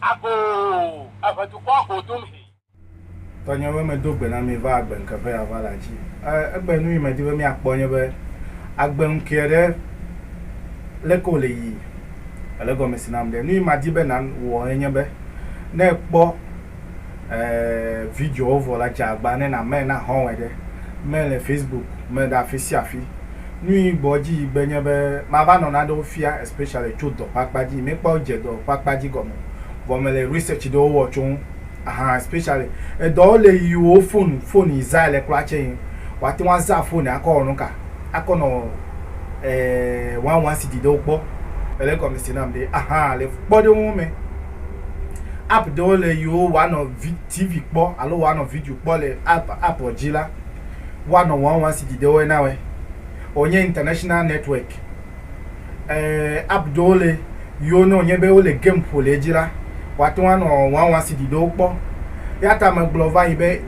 Agoo, eve dukɔa go dom he. Tɔnye be medo gbe na mi va agbe ŋke ƒe yava la dzi. E, egbe nu yi medi be miakpɔ nye be agbe ŋkee ɖe leke wòle yii. Èle gɔme si nam ɖe. Nu yi madi be nan wɔ enye be ne èkpɔ video wo vɔ la dze agba ne na mɛ na hɔwɛ ɖe mɛ le Facebook mɛ ɖe afi sia afi. Nu yi gbɔ dzi yi gbe nye be ma va nɔ naɖewo fia especially tso dɔ ƒe akpa dzi. Mɛ kpɔ dze dɔ ƒe akpa dzi gɔme vɔ me le research ɖewo wɔ tso ŋu ahan especially edɔ wo le yi wo phone phone yi zã le kura tse yi wa te ŋu a zã phone akɔ wɔ nuka akɔ nɔ eh wan wan sidi ɖewo kpɔ. Ele gɔme se nam ɖe ahan le kpɔ ɖe wo ŋu mɛ. App ɖewo le yi wo woanɔ vi TV kpɔ alo woanɔ video kpɔ le app app dzi la, woanɔ wɔn wɔn si dide wɔe na wɔe. Wonye international network. E, app ɖewo le yi wo ne wonye be wole game ƒo le edzi la, woate ŋu anɔ wɔn wɔn si dide wo kpɔ. Ya ta megblɔ va yi be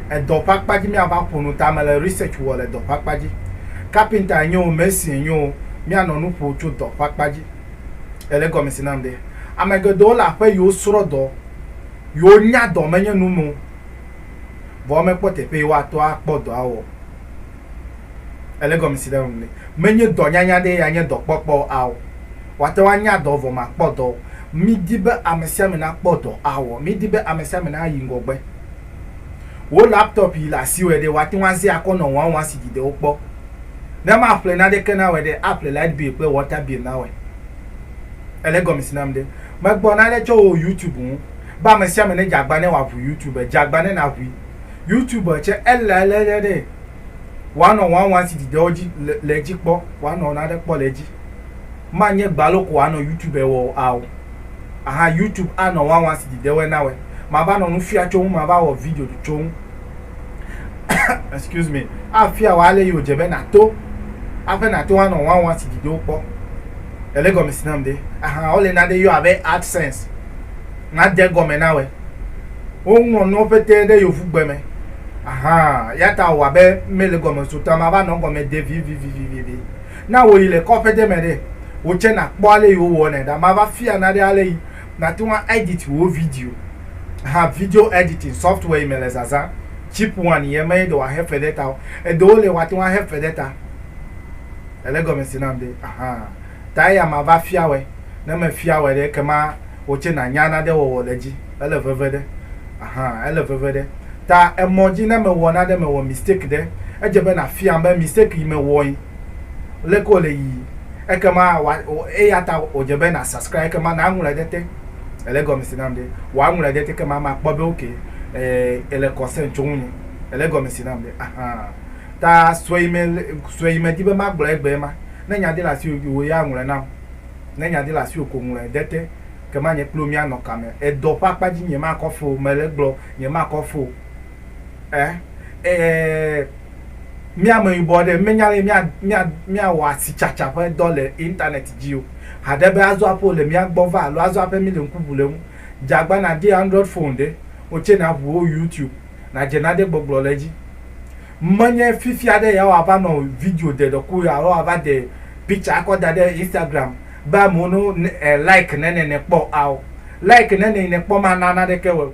edɔ ƒe akpa dzi miava ƒo nu ta mele research wɔ le dɔ ƒe akpa dzi. Kapinta enye o, mesin enye o, mianɔ nu ƒo tso dɔ ƒe akpa dzi. Ele gɔme si nam ɖe. Ame geɖewo le aƒe yi wosrɔ̃ dɔ, yi wonya dɔ menye nu me o, vɔ womekpɔ teƒe yi woato akpɔ dɔa wɔ. Ele gɔme si nam ɖe. Menye dɔnyanya ɖee ya nye dɔkpɔkpɔ ao. Woate ŋu anya dɔ vɔ màkpɔ dɔ o. Mídi be ame sia ame nakpɔ dɔ awɔ. Mídi be ame sia ame nayi ŋgɔgbe. Wò laptop yi le asiwòe ɖe, wòate ŋu azẽ akɔ nɔ wɔawɔa si dzi de wo kpɔ. Ne maƒle naneke na wòe ɖe, aƒle light bill kple water bill na wòe. Èle gɔme si nam ɖe? Megblɔ nane tso wò YouTube ŋu be ame sia ame nedze agba ne wòaʋu YouTube. Dze agba ne nàʋui. YouTube tsɛ, ele alé ɖe ɖe wòanɔ wɔawɔa si dzi de wo dzi le edzi kpɔ, wòanɔ nane kpɔ le edzi. Manye gbalo ko wòanɔ YouTube wɔ ao. Aha YouTube anɔ wawa si dzi dewe nawe. Mava nɔ nu fia tso ŋu, mava wɔ video tso ŋu. Excuse me. Afia wɔ ale yi wòdze be nàto aƒe nàto anɔ wawa si dzi dewo kpɔ. Ele gɔme si nam de. Aha wole nane yɔ abe AdSense. Nade gɔme nawe. Woŋlɔ nuwo pete ɖe yovugbe me. Aha, yata wɔ abe mele gɔme so ta mava nɔ gɔme de vivivivivi. Na wòyi le kɔƒe ɖe me ɖe, wò tsɛ nàkpɔ ale yi wowɔnɛ ɖa. Mava fia na ɖe ale yi nàte ŋu aɛditi wò video hã. Video ɛditin sɔftwɛ yi me le zazã. Chip One ye me ye ɖe wòahe fe ɖe eta o. Eɖewo li wòate ŋu ahe fe ɖe eta. Èle egɔme se nam ɖe? Ahan. Ta eya mava fia wòe. Ne mefia wɔe ɖe, ekema wò tsɛ nànya nane wɔwɔ le edzi. Ele veve ɖe. Aha, ele veve ɖe. Ta emɔ dzi ne mewɔ nane, mewɔ mistake ɖe, edze be nàfiam be mistake yi mewɔe, leke wòle yiyi. Ekema wòa, eya ta wòdze be nà subscribe, ekema nàŋlɔe ɖe te. Èle egɔme si nam ɖe? Wòa ŋlɔe ɖe te ekema makpɔ be ok, eh, èle concern tso ŋunye. Èle egɔme si nam ɖe? Aha. Ta sue yi me, sue yi medi be magblɔe egbea ema. Ne nya ɖe le asiwò yi, wò ya ŋlɔe nam. Ne nya di le asiwò ko ŋlɔe de te, kema nye kpliwò míanɔ kame. Edɔ ƒe akpa dzi nyemakɔ foo, mele egblɔ, nyemakɔ foo e e Mi ameyibɔ aɖe menya ale mia mia miawɔ asitsatsa ƒe dɔ le internet dzi o. Haɖe be azɔ aƒe wòle mía gbɔ va alo azɔ aƒe míle ŋku ʋu le eŋu. Dze agba nàdi android phone ɖe, wò tsɛ nàʋu wo youtube, nàdze nane gbɔgblɔ le edzi. Menye fifia ɖe yeawo ava nɔ video de ɖɔku alo ava de picture akɔ da ɖe Instagram be amewo no like ne ne ne kpɔ ao. Like ne ne ne kpɔ ma na naneke wɔ o.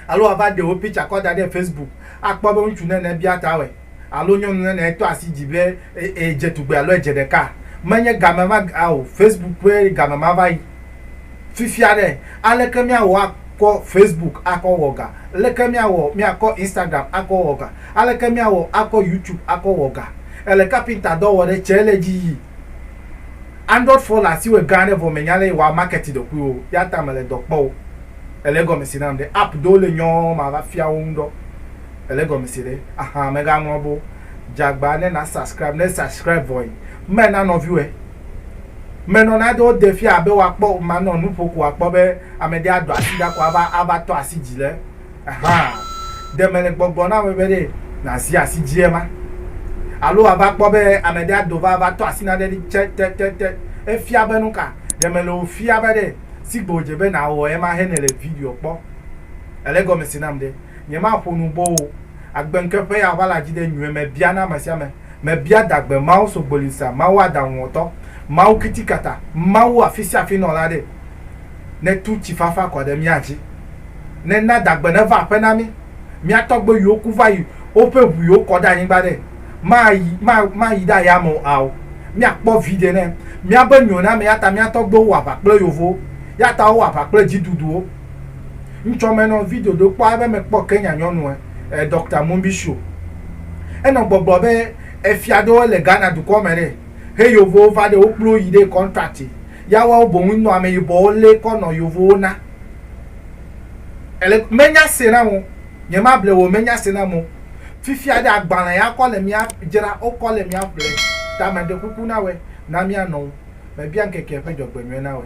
Alo ava de wò picture kɔ da ɖe Facebook akpɔ be ŋutsu ne ne bia ta wɔ alo nyɔnu ne ne tɔ asi dzi be edze tugbe alo edze ɖeka. Menye game ma ao. Facebook ƒe game ma va yi. fifia ɖe, aleke míawɔ akɔ Facebook akɔ wɔ ga? Aleke míawɔ míakɔ Instagram akɔ wɔ ga? Aleke míawɔ akɔ YouTube akɔ wɔ ga? Èle kapinta dɔ wɔ ɖe, tsɛ le dzi yi Android fon le asiwò gã aɖe vɔ mènya lé wòa market ɖokuiwò o, ya ta mèle dɔ kpɔ o. Èle egɔme se nam ɖe? App ɖewo le nyɔ mava fia wo ŋu ɖɔ. Èle egɔme se ɖe? Ahan, mègaŋlɔ be o. Dze agba ne na subscribe, ne subscribe vɔ yi, me na nɔviwòe. Menɔna do wode fia be woakpɔ manɔ nu ƒo ko akpɔ be ame ɖe ado asi ɖa ko ava ava tɔ asi dzi le ehã ɖe mele gbɔgblɔ na ame be ɖe nazi asi dzi ema alo wòava kpɔ be ame ɖe ado va ava tɔ asi na ɖe ɖi tse te te te efia be nuka ɖe mele wo fia be ɖe si gbe wòdze be nawɔ ema he nele video kpɔ ele gɔme se nam ɖe nyemaƒo nu bo o. Agbeŋkeƒea ʋala dzi ɖe nyuiɛ me bia na amesiame, mebia dagbe Mawu sogbolisa, Mawu aɖaŋuwɔtɔ, Mawu kitikata, Mawu afisiafinɔla ɖe, netu tsi fafa kɔ ɖe mía dzi, nena dagbe neva aƒe na mí, mía tɔgbewiwo ku va yi woƒe ʋuiwo kɔ ɖe anyigba ɖe, mayi, ma, mayi ɖe ayame o ao, míakpɔ viɖe ne míabe mionamee, eyata mía tɔgbewo wɔ aʋa kple yovowo, eyata wowɔ aʋa kple dziduduwo. Ŋtsɔ mɛ nɔ video ɖewo kpɔ abe mekpɔ Kenya nyɔnu ɛ, ɛ Doctor Mumbisho. Enɔ gbɔgblɔ be efia ɖewo le Ghana dukɔ mɛ ɖe he yovowo va ɖe wo kplo yi ɖe contract ya wawo boŋ nɔ ameyibɔwo le kɔ nɔ yovowo na. Ele menya se nam o, nye ma ble wò menya se nam o. Fifia ɖe agbalɛ ya kɔ le mia dzra wo kɔ le mia ƒle ta me ɖe kuku na wɛ na mia nɔwo me bia ŋkeke ƒe dzɔgbenyuiɛ na wɛ.